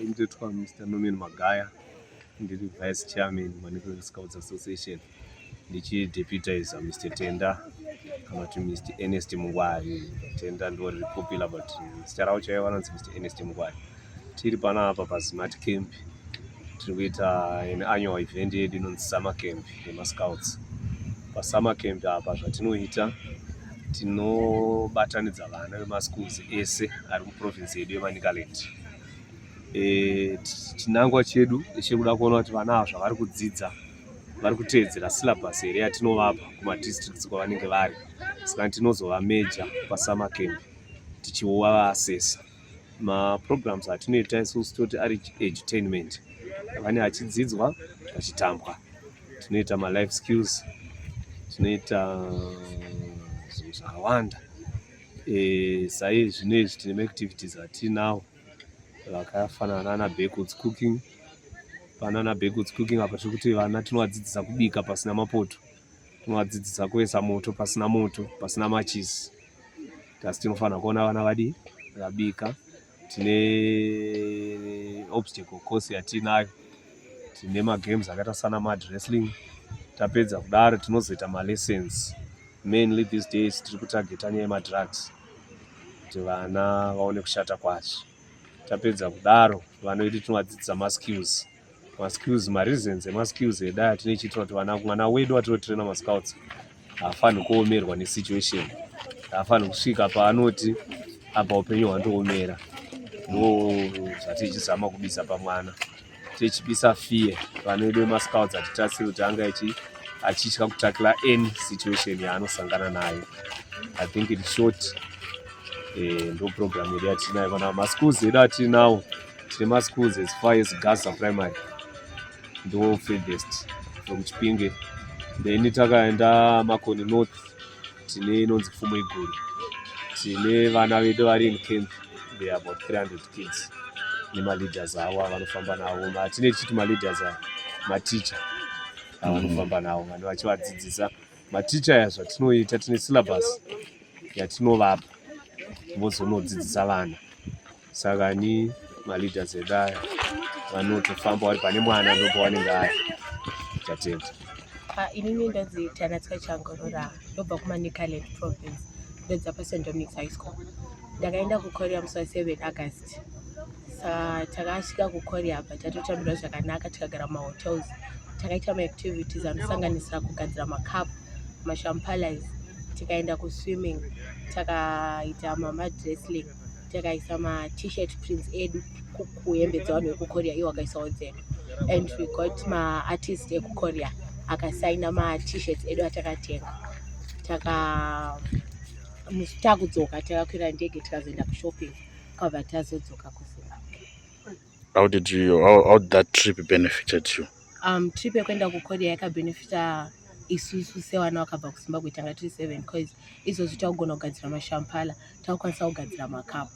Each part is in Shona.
Ndotwa Mr. Norman Magaya, ndiri vice chairman Manicaland Scouts Association, ndichideputizer Mr. Tenda kana kuti Mr. Ernest Mungwari. Tenda ndiwo riri popular but zita ravo chaivo vanonzi Mr. Ernest Mungwari. Tiri panapa paSmart Camp tiri kuita an annual event yedu inonzi Summer Camp. nemascouts pasummer camp apa zvatinoita tinobatanidza vana vemaschools ese ari muprovince yedu yemanicaland e, chinangwa chedu chiri kuda kuona kuti vana ava zvavari kudzidza vari kuteedzera syllabus here yatinovapa kumadistricts kwavanenge vari saka tinozovameja pasummer camp tichiuva vaasesa maprograms atinoita isusu toti ari edutainment vane achidzidzwa achitambwa tinoita malife skills tinoita zvinhu zvakawanda eh, sai zvino izvi tine maactivities atinawo vakafanana nana backwoods cooking panana backwoods cooking apa zvekuti vana tinovadzidzisa kubika pasina mapoto tinovadzidzisa kuisa moto pasina moto pasina machisi thus tinofanira kuona vana vadii vakabika tine obstacle course yatiinayo tine magames akaita sana mad wrestling tapedza kudaro tinozoita malessons mainly these days tiri kutargeta nyaya yemadrugs kuti vana vaone kushata kwacho tapedza kudaro vanoiti tinovadzidzisa maskills maskills mareasons emaskills edu aya tinochiitira kuti vana mwana wedu watinotraina mascouts haafanhi kuomerwa nesituation haafanhi kusvika paanoti apa upenyu hwandoomera ndo zvatichizama kubisa pamwana tichibisa fear vana vedu vemascouts hatitarisiri kuti anga ichi achitya kutakira any situation yaanosangana nayo i think in short eh, ndo program yedu yatinayo kana maschools edu atinawo eh, tine maschools as far as gaza primary ndo furthest from chipinge then takaenda makoni north tine inonzi pfumo iguru tine vana vedu vari in camp they about 300 kids nemaleaders avo avanofamba navo matine tichiti maleaders avo maticha avanofamba navo vanhu vachivadzidzisa maticha ya zvatinoita tine syllabus yatinovapa vozonodzidzisa vana saka ni maleaders edu aya vanotofamba vari pane mwana ndopo wanenge ari chatenda ah, inini ndodzi tanatswa changorora ndobva kumanicaland province ndodza pasan dominics high school ndakaenda kukorea musi wa 7 august sa takasvika kukorea apa tatotambira zvakanaka tikagara mumahotels takaita maactivities anosanganisira kugadzira macup mashampalies tikaenda kuswimming takaita mamadressling takaisa ma t-shirt prints edu kuhembe dzevanhu vekukorea iwo akaisawo dzedu and we got maartist ekukorea akasaina matshirt edu atakatenga taka takudzoka takakwira ndege tikazoenda kushopping kwabva tazodzoka kuzimbabwe How did you how, how did that trip benefited you? Um, trip yekuenda kuKorea yakabenefita isusu sevana vakabva kuZimbabwe tanga tiri seven because izvozvi takugona kugadzira mashampala takukwanisa kugadzira makapu.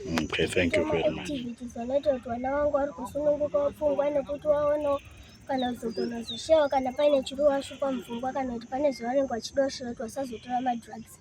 Mm, okay, thank you very much. Vanoita kuti vana vangu vari kusununguka pfungwa nekuti vaonawo kana kuzogona zvishewa kana paine chiri washupa mupfungwa kana kuti pane zvavanenge vachida kushevetwa vasazotora madrugs.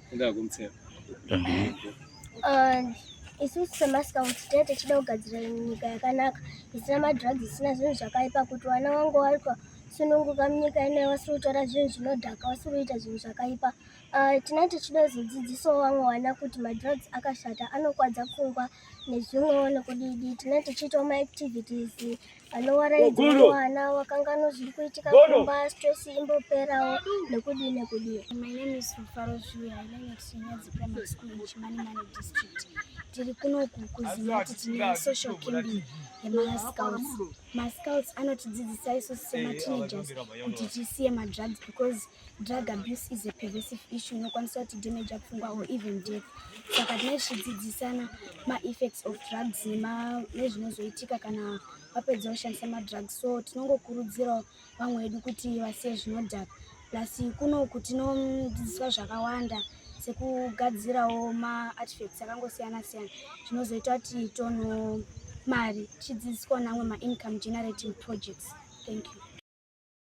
isusu semascout tinenge tichida kugadzira nyika yakanaka isina madrugs isina zvinhu zvakaipa kuti vana vangu vari kusununguka munyika inoyi vasiri kutora zvinhu zvinodhaka vasiri kuita zvinhu zvakaipa ah, tinenge tichida kuzodzidzisawo vamwe vana kuti madrugs akashata anokwadza pfungwa nezvimwewo nekudidi tinenge tichiitawo maactivities anovaraidza mwana wakanganwa zviri kuitika kumba stress imboperawo nekudii nekudii my name is rufaro zviuya i learn at chinyadzi primary school in chimanimani district tiri kunoku kuziva kuti tine social camping yemascouts mascouts anotidzidzisa isu semateenagers kuti tisiye madrugs because Drug abuse is a pervasive issue inokwanisa kuti damage apfungwa or even death. Saka tinenge tichidzidzisana maeffects of drugs nezvinozoitika kana vapedza kushandisa madrugs. So tinongokurudzirawo vamwe vedu kuti vasiye zvinodhaka. Plus kunoku tinodzidziswa zvakawanda sekugadzirawo maartifacts akangosiyana siyana zvinozoita kuti tono mari tichidzidziswa namwe maincome generating projects. Thank you.